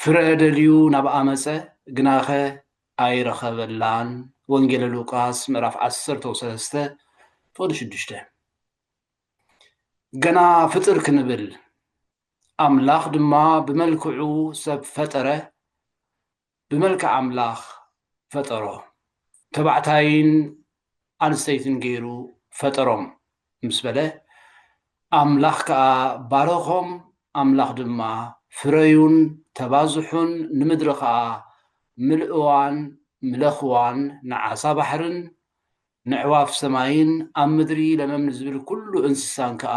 ፍረ ደልዩ ናብኣ መጸ፣ ግናኸ ኣይረኸበላን። ወንጌለ ሉቃስ ምዕራፍ ዓሰርተው ሰለስተ ፍቕዲ ሽዱሽተ ገና ፍጥር ክንብል ኣምላኽ ድማ ብመልክዑ ሰብ ፈጠረ፣ ብመልክዕ ኣምላኽ ፈጠሮ። ተባዕታይን ኣንስተይትን ገይሩ ፈጠሮም ምስ በለ፣ ኣምላኽ ከኣ ባረኾም፣ ኣምላኽ ድማ፣ ፍረዩን ተባዝሑን፣ ንምድሪ ኸኣ ምልእዋን፣ ምለኽዋን፣ ንዓሳ ባሕርን ነዕዋፍ ሰማይን፣ ኣብ ምድሪ ለመም ንዝብል ኵሉ እንስሳን ከኣ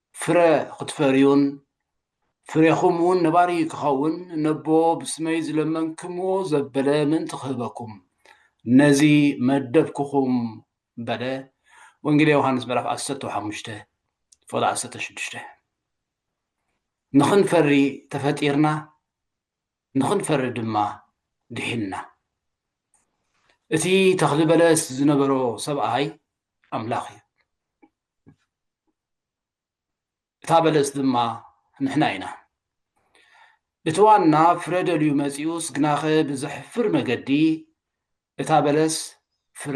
ፍረ ኽትፈርዩን ፍሬኹም እውን ነባሪ ክኸውን ነቦ ብስመይ ዝለመንክምዎ ዘበለ ምእንቲ ኽህበኩም ነዚ መደብኩኹም በለ ወንጌል ዮሃንስ ምዕራፍ ዓሰርተ ሓሙሽተ ፎል ዓሰርተ ሽዱሽተ ንኽንፈሪ ተፈጢርና ንኽንፈሪ ድማ ድሒንና እቲ ተኽሊ በለስ ዝነበሮ ሰብኣይ ኣምላኽ እዩ እታ በለስ ድማ ንሕና ኢና። እቲ ዋና ፍረ ደልዩ መጺኡስ ግናኸ ብዘሕፍር መገዲ እታ በለስ ፍረ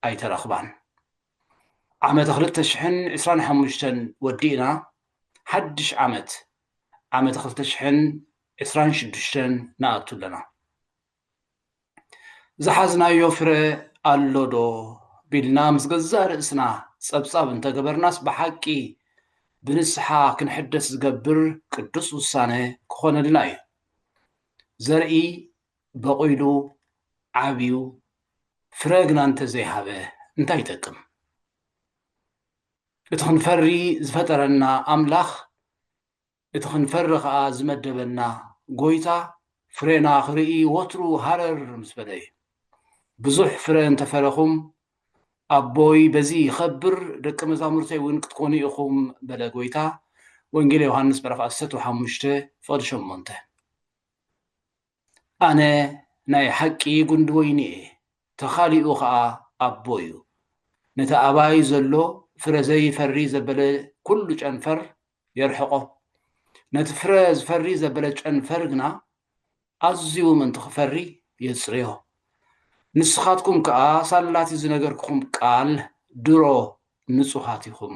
ኣይተረኽባን። ዓመተ ክልተ ሽሕን ዕስራን ሓሙሽተን ወዲእና ሓድሽ ዓመት ዓመተ ክልተ ሽሕን ዕስራን ሽዱሽተን ንኣቱ ኣለና። ዝሓዝናዮ ፍረ ኣሎ ዶ ቢልና ምስ ገዛእ ርእስና ጸብጻብ እንተገበርናስ ብሓቂ ብንስሓ ክንሕደስ ዝገብር ቅዱስ ውሳነ ክኾነልና እዩ። ዘርኢ በቑሉ ዓብዩ ፍረ ግና እንተዘይሃበ እንታይ ይጠቅም? እቲ ክንፈሪ ዝፈጠረና ኣምላኽ እቲ ክንፈሪ ከኣ ዝመደበና ጎይታ ፍሬና ክርኢ ወትሩ ሃረር ምስ በለ እዩ። ብዙሕ ፍረ እንተ ፈረኹም ኣቦይ በዚ ይኸብር ደቀ መዛሙርተይ እውን ክትኮኑ ኢኹም በለ ጎይታ ወንጌል ዮሃንስ ምዕራፍ ዓሰርተ ሓሙሽተ ፍቕዲ ሸሞንተ። ኣነ ናይ ሓቂ ጉንዲ ወይኒ እየ፣ ተኻሊኡ ኸኣ ኣቦ እዩ። ነቲ ኣባይ ዘሎ ፍረ ዘይፈሪ ዘበለ ኵሉ ጨንፈር የርሕቖ፣ ነቲ ፍረ ዝፈሪ ዘበለ ጨንፈር ግና ኣዝዩ ምእንቲ ኽፈሪ የጽርዮ። ንስኻትኩም ከኣ ሳላቲ ዝነገርኩኹም ቃል ድሮ ንጹሃት ኢኹም።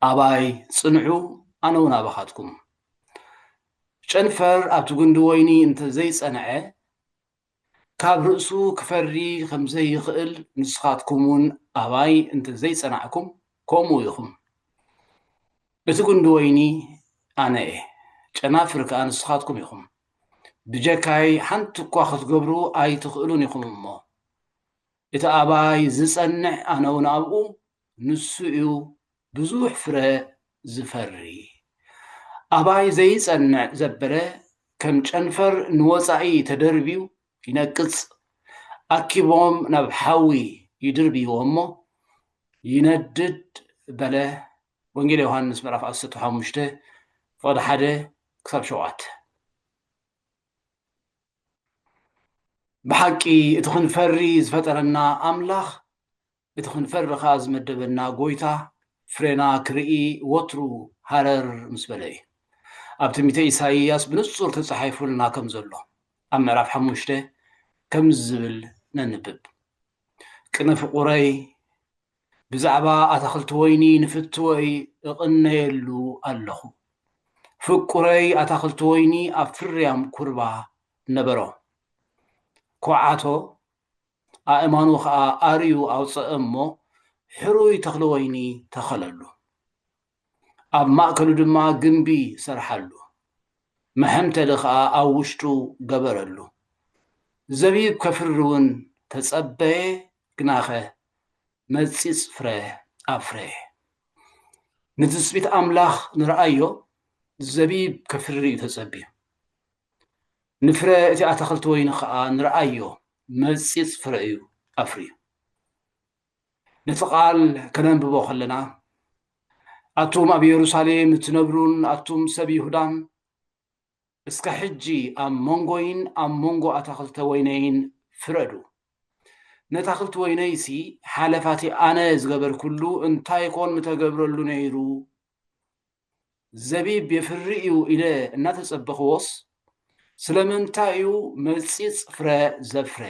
ኣባይ ጽንሑ ኣነ ውን ኣባኻትኩም። ጨንፈር ኣብቲ ጉንዲ ወይኒ እንተ ዘይጸንዐ ካብ ርእሱ ክፈሪ ከም ዘይኽእል ንስኻትኩም ውን ኣባይ እንተ ዘይጸናዕኩም ከምኡ ኢኹም። እቲ ጉንዲ ወይኒ ኣነ እየ ጨናፍር ከኣ ንስኻትኩም ኢኹም። ብጀካይ ሓንቲ እኳ ክትገብሩ ኣይትኽእሉን ኢኹም እሞ እቲ ኣባይ ዝጸንዕ ኣነ ውን ኣብኡ ንሱ'ዩ ብዙሕ ፍረ ዝፈሪ። ኣባይ ዘይጸንዕ ዘበለ ከም ጨንፈር ንወጻኢ ተደርብዩ ይነቅጽ። ኣኪቦም ናብ ሓዊ ይድርብይዎ'ሞ ይነድድ በለ ወንጌል ዮሃንስ ምዕራፍ ዓሰርተ ሓሙሽተ ፍቕዲ ሓደ ክሳብ ሸውዓተ ብሓቂ እቲ ክንፈሪ ዝፈጠረና ኣምላኽ እቲ ክንፈርኻ ዝመደበና ጎይታ ፍሬና ክርኢ ወትሩ ሃረር ምስ በለ እዩ። ኣብ ትንቢተ ኢሳይያስ ብንጹር ተጻሒፉልና ከም ዘሎ ኣብ ምዕራፍ ሓሙሽተ ከምዚ ዝብል ነንብብ ቅነ ፍቑረይ ብዛዕባ ኣታኽልቲ ወይኒ ንፍትወይ እቕነየሉ ኣለኹ። ፍቁረይ ኣታኽልቲ ወይኒ ኣብ ፍርያም ኩርባ ነበሮ። ኮዓቶ ኣእማኑ ኸኣ ኣርዩ ኣውጽእ እሞ ሕሩይ ተኽሊ ወይኒ ተኸለሉ። ኣብ ማእከሉ ድማ ግምቢ ሰርሓሉ፣ መሐምተሊ ኸኣ ኣብ ውሽጡ ገበረሉ። ዘቢብ ከፍሪውን ተጸበየ፣ ግናኸ መጺጽ ፍረ ኣፍረየ። ንትጽቢት ኣምላኽ ንርኣዮ፣ ዘቢብ ከፍሪ እዩ ተጸብዩ። ንፍረ እቲ ኣታኽልቲ ወይኒ ኸኣ ንርኣዮ፣ መጺጽ ፍረ እዩ ኣፍርዩ። ነቲ ቓል ከነንብቦ ኸለና፣ ኣቱም ኣብ የሩሳሌም እትነብሩን ኣቱም ሰብ ይሁዳን፣ እስከ ሕጂ ኣብ መንጎይን ኣብ መንጎ ኣታኽልተ ወይነይን ፍረዱ። ነታኽልቲ ወይነይሲ ሓለፋቲ ኣነ ዝገበርኩሉ እንታይ ኮን ምተገብረሉ ነይሩ? ዘቢብ የፍሪ እዩ ኢለ እናተጸበኽዎስ ስለምንታይ እዩ መጺጽ ፍረ ዘፍረ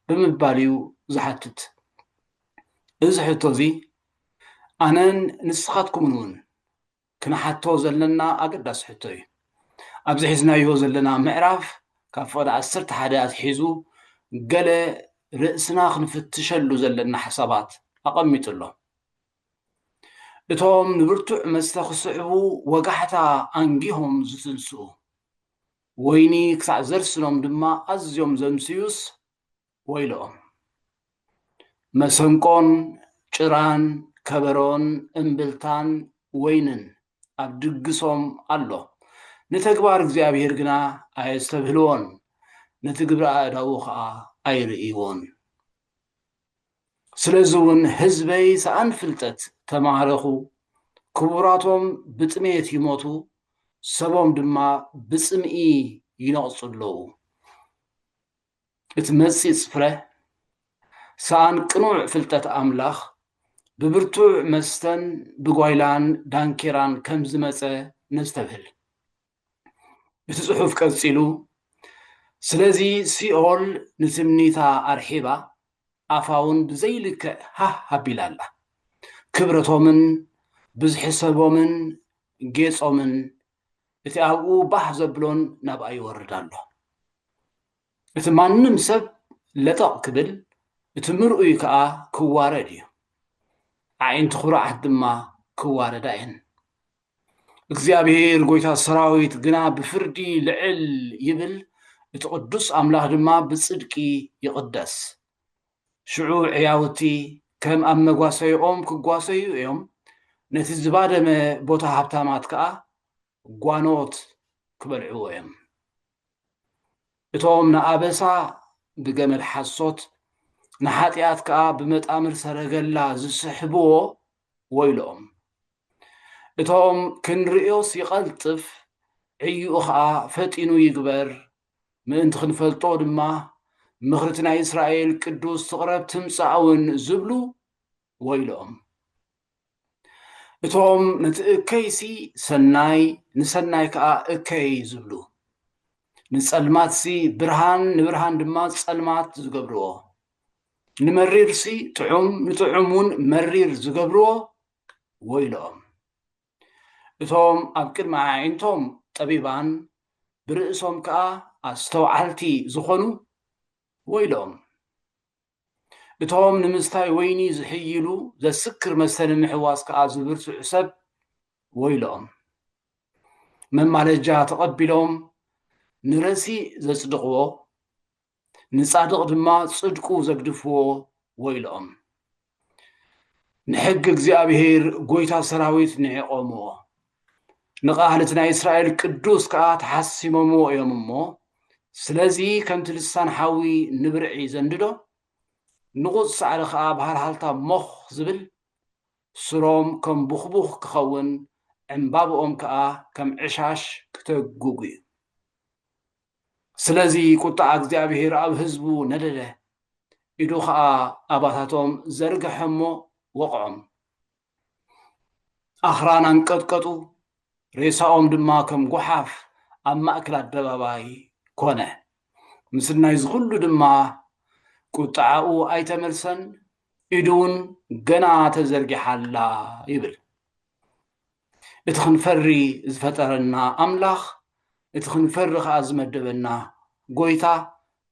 ብምባል እዩ ዝሓትት። እዚ ሕቶ እዚ ኣነን ንስኻትኩምን እውን ክንሓቶ ዘለና ኣገዳሲ ሕቶ እዩ። ኣብዚ ሒዝናዮ ዘለና ምዕራፍ ካብ ፍቕዲ ዓሰርተ ሓደ ኣትሒዙ ገለ ርእስና ክንፍትሸሉ ዘለና ሓሳባት ኣቐሚጡ ኣሎ። እቶም ንብርቱዕ መስተ ክስዕቡ ወጋሕታ ኣንጊሆም ዝትንስኡ፣ ወይኒ ክሳዕ ዘርስኖም ድማ ኣዝዮም ዘምስዩስ ወይለኦም። መሰንቆን ጭራን ከበሮን እምብልታን ወይንን ኣብ ድግሶም ኣሎ፣ ንተግባር እግዚኣብሄር ግና ኣየስተብህልዎን፣ ነቲ ግብሪ ኣእዳዉ ኸኣ ኣይርእይዎን። ስለዚ ውን ህዝበይ ሰኣን ፍልጠት ተማህረኹ ክቡራቶም ብጥሜት ይሞቱ ሰቦም ድማ ብጽምኢ ይነቕጹ ኣለዉ። እቲ መጺጽ ፍረ ሰኣን ቅኑዕ ፍልጠት ኣምላኽ ብብርቱዕ መስተን ብጓይላን ዳንኬራን ከም ዝመጸ ነስተብህል። እቲ ጽሑፍ ቀጺሉ፣ ስለዚ ሲኦል ንትምኒታ ኣርሒባ ኣፋውን ብዘይልክዕ ሃህ ኣቢላ ኣላ። ክብረቶምን ብዝሒ ሰቦምን ጌጾምን እቲ ኣብኡ ባህ ዘብሎን ናብኣ ይወርድ ኣሎ። እቲ ማንም ሰብ ለጠቕ ክብል እቲ ምርኡይ ከኣ ክዋረድ እዩ። ኣዒንቲ ኩሩዓት ድማ ክዋረዳ እየን። እግዚኣብሔር ጎይታ ሰራዊት ግና ብፍርዲ ልዕል ይብል፣ እቲ ቅዱስ ኣምላኽ ድማ ብጽድቂ ይቕደስ። ሽዑ ዕያውቲ ከም ኣብ መጓሰይኦም ክጓሰዩ እዮም፣ ነቲ ዝባደመ ቦታ ሃብታማት ከኣ ጓኖት ክበልዕዎ እዮም። እቶም ንኣበሳ ብገመድ ሓሶት ንሓጢኣት ከኣ ብመጣምር ሰረገላ ዝስሕብዎ ወይልኦም እቶም ክንርእዮስ ይቐልጥፍ ዕይኡ ኸኣ ፈጢኑ ይግበር ምእንቲ ክንፈልጦ ድማ ምኽርቲ ናይ እስራኤል ቅዱስ ትቕረብ ትምጻእውን ዝብሉ ወይልኦም እቶም ነቲ እከይሲ ሰናይ ንሰናይ ከኣ እከይ ዝብሉ ንጸልማትሲ ብርሃን ንብርሃን ድማ ጸልማት ዝገብርዎ ንመሪርሲ ጥዑም ንጥዑም እውን መሪር ዝገብርዎ ወይልኦም እቶም ኣብ ቅድሚ ኣዒንቶም ጠቢባን ብርእሶም ከዓ ኣስተውዓልቲ ዝኾኑ ወይልኦም እቶም ንምስታይ ወይኒ ዝሕይሉ ዘስክር መስተ ንምሕዋስ ከዓ ዝብርትዑ ሰብ ወይልኦም መማለጃ ተቐቢሎም ንረሲእ ዘጽድቕዎ ንጻድቕ ድማ ጽድቁ ዘግድፍዎ ወይልኦም። ንሕጊ እግዚኣብሔር ጐይታ ሰራዊት ንዒቖምዎ፣ ንቃል እቲ ናይ እስራኤል ቅዱስ ከኣ ተሓሲሞምዎ እዮም እሞ፣ ስለዚ ከምቲ ልሳን ሓዊ ንብርዒ ዘንድዶ፣ ንቑጽ ሳዕሪ ከኣ ብሃልሃልታ ሞኽ ዝብል፣ ሱሮም ከም ቡኽቡኽ ክኸውን፣ ዕምባብኦም ከኣ ከም ዕሻሽ ክተጉጉ እዩ። ስለዚ ቁጥዓ እግዚኣብሄር ኣብ ህዝቡ ነደደ፣ ኢዱ ኸኣ ኣባታቶም ዘርግሐ እሞ ወቕዖም። ኣኽራን ኣንቀጥቀጡ፣ ሬሳኦም ድማ ከም ጓሓፍ ኣብ ማእከል ኣደባባይ ኮነ። ምስል ናይዚ ዅሉ ድማ ቁጥዓኡ ኣይተመልሰን፣ ኢዱ እውን ገና ተዘርጊሓ ኣላ ይብል። እቲ ክንፈሪ ዝፈጠረና ኣምላኽ እቲ ክንፈሪ ከኣ ዝመደበና ጎይታ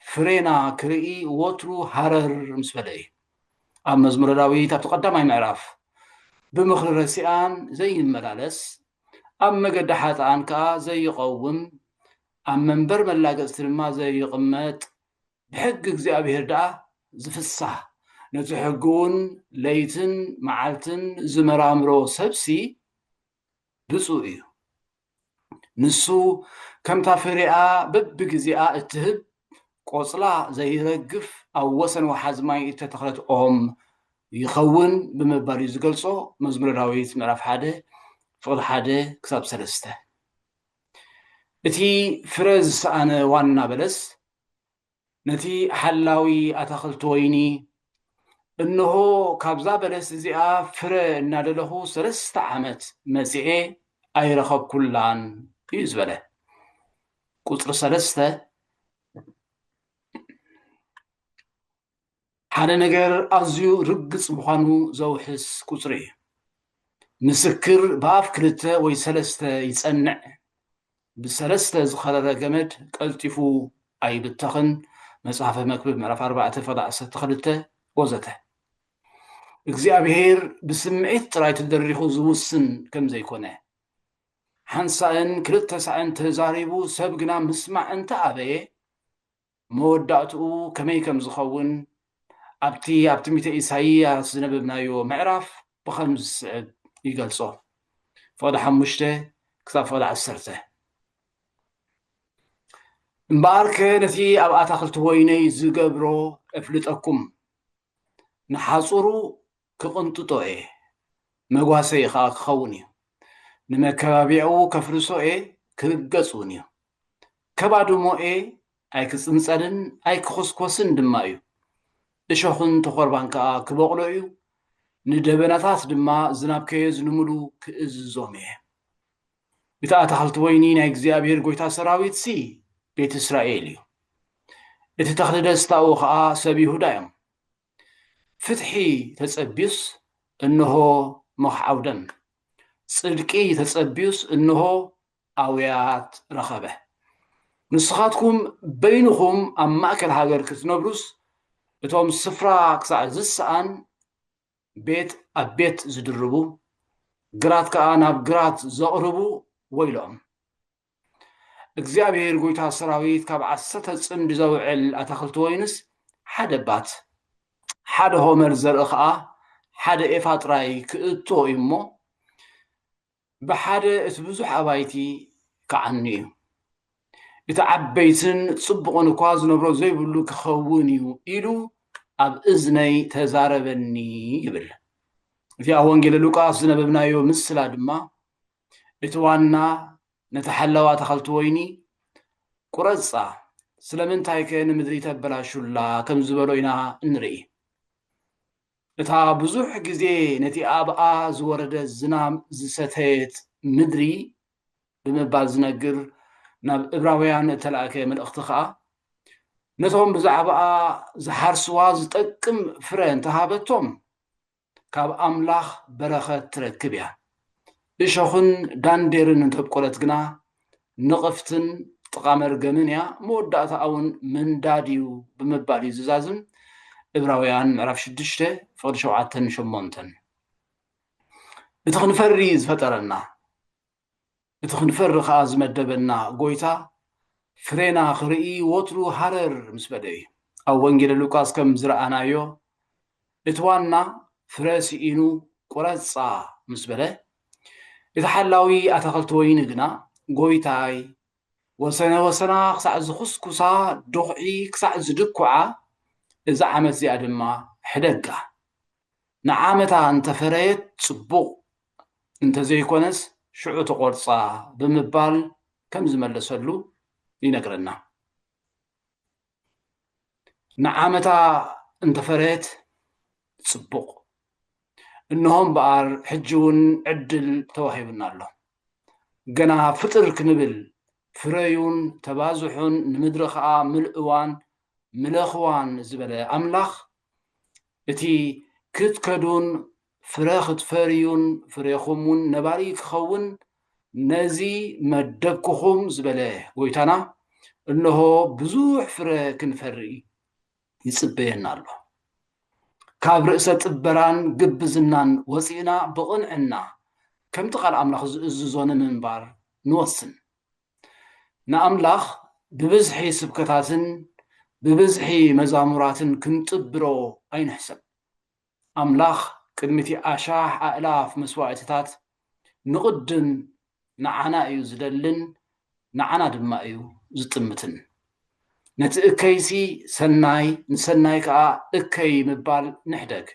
ፍሬና ክርኢ ወትሩ ሃረር ምስ በለ እዩ ኣብ መዝሙረ ዳዊት ኣብቲ ቀዳማይ ምዕራፍ ብምኽሪ ረሲኣን ዘይመላለስ ኣብ መገዲ ሓጥኣን ከኣ ዘይቐውም ኣብ መንበር መላገጽቲ ድማ ዘይቕመጥ ብሕጊ እግዚኣብሄር ደኣ ዚፍሳህ፣ ነቲ ሕጊውን ለይትን መዓልትን ዚመራምሮ ሰብሲ ብጹእ እዩ። ንሱ ከምታ ፍሬኣ በብግዜኣ እትህብ፣ ቆጽላ ዘይረግፍ፣ ኣብ ወሰን ወሓዚ ማይ እተተኽለት ኦም ይኸውን ብምባል እዩ ዝገልጾ መዝሙረ ዳዊት ምዕራፍ ሓደ ፍቕዲ ሓደ ክሳብ ሰለስተ እቲ ፍረ ዝሰኣነ ዋና በለስ ነቲ ሓላዊ ኣታኽልቲ ወይኒ፣ እንሆ፣ ካብዛ በለስ እዚኣ ፍረ እናደለኹ ሰለስተ ዓመት መጺኤ ኣይረኸብኩላን እዩ ዝበለ። ቁጽሪ ሰለስተ፣ ሓደ ነገር ኣዝዩ ርግጽ ምዃኑ ዘውሕስ ቁጽሪ እዩ። ምስክር ብኣፍ ክልተ ወይ ሰለስተ ይጸንዕ፣ ብሰለስተ ዝኸረረ ገመድ ቀልጢፉ ኣይብተኽን፣ መጽሓፈ መክብብ ምዕራፍ ኣርባዕተ ፈቐ ዓሰርተ ክልተ ወዘተ። እግዚኣብሄር ብስምዒት ጥራይ ተደሪኹ ዝውስን ከም ዘይኮነ፣ ሓንሳእን ክልተ ሳዕን ተዛሪቡ ሰብ ግና ምስማዕ እንተ ኣበየ፣ መወዳእትኡ ከመይ ከም ዝኸውን ኣብቲ ኣብ ትንቢተ ኢሳይያስ ዝነበብናዮ ምዕራፍ ብኸምዚ ዝስዕብ ይገልጾ፣ ፍቕዲ ሓሙሽተ ክሳብ ፍቕዲ ዓሰርተ እምበኣርከ ነቲ ኣብ ኣታኽልቲ ወይነይ ዝገብሮ እፍልጠኩም፣ ንሓጹሩ ክቕንጥጦ እየ፣ መጓሰዪ ኸኣ ክኸውን እዩ። ንመከባብያኡ ከፍርሶ እየ፣ ክርገጽ እውን እዩ። ከባድሞ እየ፣ ኣይክጽንጸልን ኣይክዅስኰስን ድማ እዩ። እሾኽን ተዀርባን ከኣ ክበቝሎ እዩ፣ ንደበናታት ድማ ዝናብ ከየዝንሙሉ ክእዝዞም እየ። እቲ ኣታኽልቲ ወይኒ ናይ እግዚኣብሄር ጐይታ ሰራዊትሲ ቤት እስራኤል እዩ፣ እቲ ተኽሊ ደስታኡ ኸኣ ሰብ ይሁዳ እዮም። ፍትሒ ተጸብዩስ እንሆ መኽዓው ደም፣ ጽድቂ ተጸብዩስ እንሆ ኣውያት ረኸበ። ንስኻትኩም በይንኹም ኣብ ማእከል ሃገር ክትነብሩስ እቶም ስፍራ ክሳዕ ዝሰኣን ቤት ኣብ ቤት ዝድርቡ ግራት ከኣ ናብ ግራት ዘቕርቡ ወይሎም። እግዚኣብሄር ጐይታ ሰራዊት ካብ ዓሰርተ ጽምዲ ዘውዕል ኣታኽልቲ ወይንስ ሓደ ባት ሓደ ሆመር ዘርኢ ኸኣ ሓደ ኤፋ ጥራይ ክእቶ እዩ እሞ ብሓደ እቲ ብዙሕ ኣባይቲ ክዓኑ እዩ እቲ ዓበይትን ጽቡቕን እኳ ዝነብሮ ዘይብሉ ክኸውን እዩ ኢሉ ኣብ እዝነይ ተዛረበኒ ይብል እዚኣ ወንጌል ሉቃስ ዝነበብናዮ ምስላ ድማ እቲ ዋና ነታ ሓላዋ ኣታኸልቲ ወይኒ ቁረጻ ስለምንታይከ ንምድሪ ተበላሹላ ከም ዝበሎ ኢና እንርኢ። እታ ብዙሕ ግዜ ነቲ ኣብኣ ዝወረደ ዝናም ዝሰተየት ምድሪ ብምባል ዝነግር ናብ እብራውያን እተላእከ መልእኽቲ ኸኣ ነቶም ብዛዕባኣ ዝሓርስዋ ዝጠቅም ፍረ እንተሃበቶም ካብ ኣምላኽ በረኸት ትረክብ እያ። እሾኽን ዳንዴርን እንተ ኣብቆለት ግና ንቕፍትን ጥቓ መርገምን እያ፣ መወዳእታኣውን ምንዳድ እዩ ብምባል እዩ ዝዛዝም እብራውያን ምዕራፍ ሽዱሽተ ፍቕዲ ሸውዓተን ሸሞንተን እቲ ክንፈሪ ዝፈጠረና እቲ ክንፈሪ ከኣ ዝመደበና ጎይታ ፍሬና ክርኢ ወትሩ ሃረር ምስ በለ እዩ። ኣብ ወንጌለ ሉቃስ ከም ዝረኣናዮ እቲ ዋና ፍረ ስኢኑ ቁረጻ ምስ በለ እቲ ሓላዊ ኣታኽልቲ ወይኒ ግና ጎይታይ ወሰነ ወሰና ክሳዕ ዝኹስኩሳ ዶኽዒ ክሳዕ ዝድኩዓ እዛ ዓመት እዚኣ ድማ ሕደጋ ንዓመታ እንተፈረየት ጽቡቕ እንተዘይኮነስ ሽዑ ትቖርጻ ብምባል ከም ዝመለሰሉ ይነግረና። ንዓመታ እንተፈረየት ጽቡቕ፣ እንሆ እምበኣር ሕጂውን ዕድል ተዋሂቡና ኣሎ። ገና ፍጥር ክንብል ፍረዩን ተባዝሑን ንምድሪ ኸኣ ምልእዋን ምለኽዋን ዝበለ ኣምላኽ እቲ ክትከዱን ፍረ ክትፈርዩን ፍሬኹም እውን ነባሪ ክኸውን ነዚ መደብኩኹም ዝበለ ጎይታና እነሆ ብዙሕ ፍረ ክንፈሪ ይጽበየና ኣሎ። ካብ ርእሰ ጥበራን ግብዝናን ወፂእና ብቕንዕና ከምቲ ቃል ኣምላኽ ዝእዝዞ ንምንባር ንወስን። ንኣምላኽ ብብዝሒ ስብከታትን ብብዝሒ መዛሙራትን ክንጥብሮ ኣይንሕሰብ። ኣምላኽ ቅድሚ'ቲ ኣሻሕ ኣእላፍ መስዋእቲታት ንቕድም ንዓና እዩ ዝደልን ንዓና ድማ እዩ ዝጥምትን። ነቲ እከይሲ ሰናይ ንሰናይ ከኣ እከይ ምባል ንሕደግ።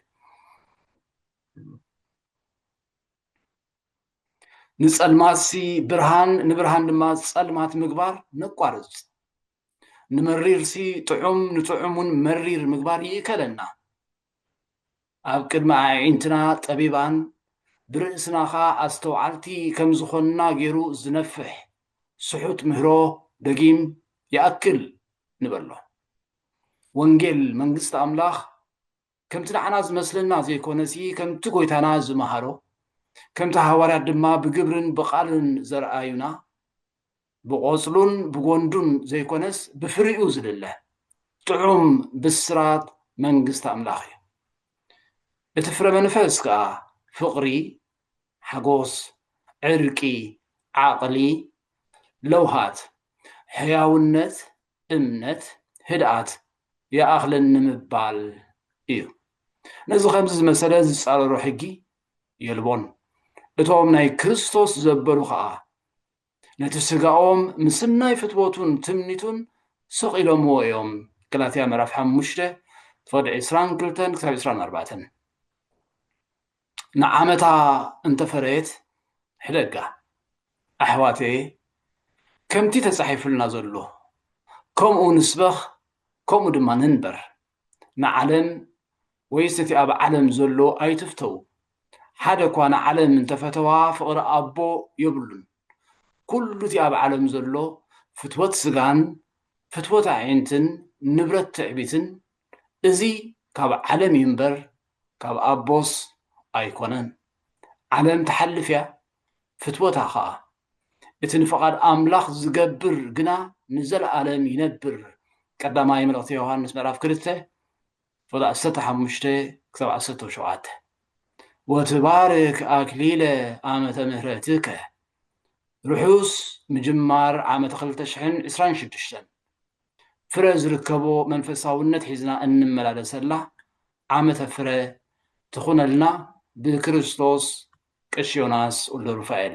ንጸልማትሲ ብርሃን ንብርሃን ድማ ጸልማት ምግባር ነቋርጽ ንመሪርሲ ጥዑም ንጥዑም እውን መሪር ምግባር ይእከለና ኣብ ቅድሚ ኣዒንትና ጠቢባን ብርእስና ኸዓ ኣስተውዓልቲ ከም ዝኾንና ገይሩ ዝነፍሕ ስሑት ምህሮ ደጊም ይኣክል ንበሎ ወንጌል መንግስቲ ኣምላኽ ከምቲ ንዓና ዝመስለና ዘይኮነሲ ከምቲ ጎይታና ዝመሃሮ ከምቲ ሃዋርያት ድማ ብግብርን ብቓልን ዘርኣዩና ብቖጽሉን ብጎንዱን ዘይኮነስ ብፍሪኡ ዝልለ ጥዑም ብስራት መንግስቲ ኣምላኽ እዩ። እቲ ፍረ መንፈስ ከኣ ፍቕሪ፣ ሓጎስ፣ ዕርቂ፣ ዓቕሊ፣ ለውሃት፣ ሕያውነት፣ እምነት፣ ህድኣት ይኣኽለኒ ንምባል እዩ። ነዚ ከምዚ ዝመሰለ ዝጻረሮ ሕጊ የልቦን። እቶም ናይ ክርስቶስ ዘበሉ ኸኣ ነቲ ስጋኦም ምስናይ ፍትወቱን ትምኒቱን ስቕ ኢሎምዎ እዮም። ገላትያ ምዕራፍ ሓሙሽተ ፍቕዲ ዕስራን ክልተን ክሳብ ዕስራን ኣርባዕተን ንዓመታ እንተፈረየት ሕደጋ። ኣሕዋተየ ከምቲ ተጻሒፉልና ዘሎ ከምኡ ንስበኽ ከምኡ ድማ ንንበር። ንዓለም ወይስ እቲ ኣብ ዓለም ዘሎ ኣይትፍተዉ። ሓደ እኳ ንዓለም እንተፈተዋ ፍቕሪ ኣቦ የብሉን። ኩሉ እቲ ኣብ ዓለም ዘሎ ፍትወት ስጋን ፍትወት ኣዒንትን ንብረት ትዕቢትን እዚ ካብ ዓለም እዩ እምበር ካብ ኣቦስ ኣይኮነን ዓለም ትሓልፍ እያ ፍትወታ ከኣ እቲ ንፍቓድ ኣምላኽ ዝገብር ግና ንዘለኣለም ይነብር ቀዳማይ መልእኽቲ ዮሃንስ ምዕራፍ ክልተ ቁጥሪ ዓሰርተ ሓሙሽተ ክሳብ ዓሰርተ ሸውዓተ ወትባርክ ኣክሊለ ዓመተ ምህረትከ ርሑስ ምጅማር ዓመተ ክልተ ሽሕን ዕስራን ሽዱሽተን ፍረ ዝርከቦ መንፈሳውነት ሒዝና እንመላለሰላ ዓመተ ፍረ ትኹነልና ብክርስቶስ ቀሺ ዮናስ ወልደሩፋኤል።